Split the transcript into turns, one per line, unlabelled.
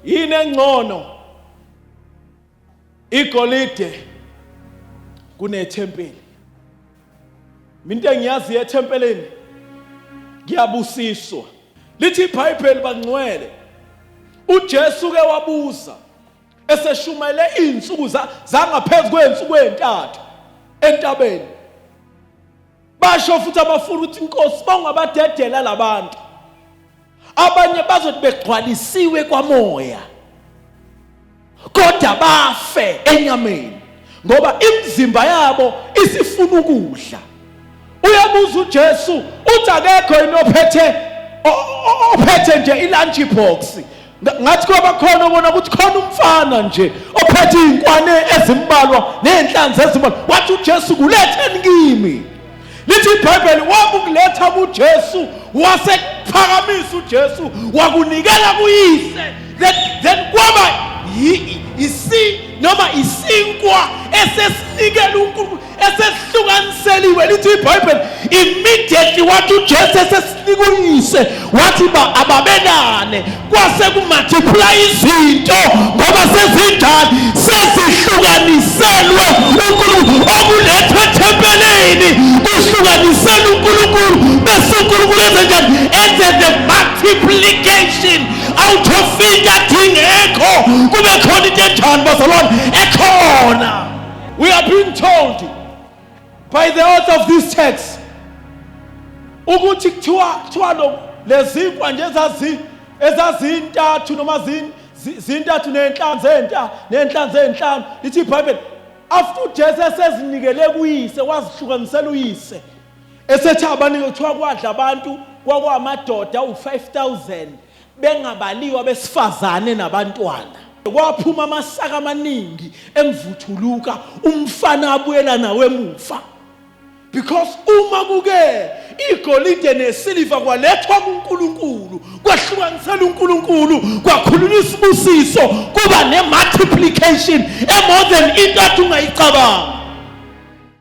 Yini engcono igolide kunethempeli? Into engiyazi ethempelini ngiyabusiswa. Lithi iBhayibheli bangcwele uJesu ke wabuza eseshumayele izinsuku zangaphezu kwezinsuku ezintathu entabeni basho futhi abafuna ukuthi inkosi bangabadedela labantu abanye bazothi begcwalisiwe kwamoya kodwa bafe enyameni ngoba imizimba yabo isifuna ukudla uyabuza uJesu uthi akekho inophethe ophethe nje ilunch box ngathi kwabakhona ubona ukuthi khona umfana nje ophethe iy'nkwane ezimbalwa ney'nhlanzi ezimbalwa wathi ujesu kuletheni kimi lithi ibhayibheli wakukuletha kujesu wasekuphakamisa ujesu wakunikela kuyise then, then kwaba isi noma isinkwa esesinikela unkulunkulu esesihlukaniseliwe lithi ibhayibheli immediately wathi ujesu esesinikuyise wathi ba ababenane kwase kumultiplya izinto ngoba sezinjani sezihlukaniselwe unkulunkulu okulethwe ethempelini kuhlukaniselwe unkulunkulu bese unkulunkulu enzenjani enze the multiplication out of fingathi ingekho kube khona into enjani bazalwane ekhona We are being told by the author of this text ukuthi kuthiwa kuthiwa lo lezinkwa nje ezazi ezazintathu noma zin zintathu nenhlanu zenta nenhlanu zenhlanu lithi iBhayibheli after uJesu esezinikele kuyise wazihlukanisela uyise esethi abanike kuthiwa kwadla abantu kwakwamadoda u5000 bengabaliwe abesifazane nabantwana kwaphuma amasaka amaningi emvuthuluka umfana abuyela nawe emuva because uma kuke igolide nesiliva kwalethwa kuNkulunkulu kwahlukanisela uNkulunkulu kwakhulunywa isibusiso kuba ne multiplication emore than into athi ungayicabanga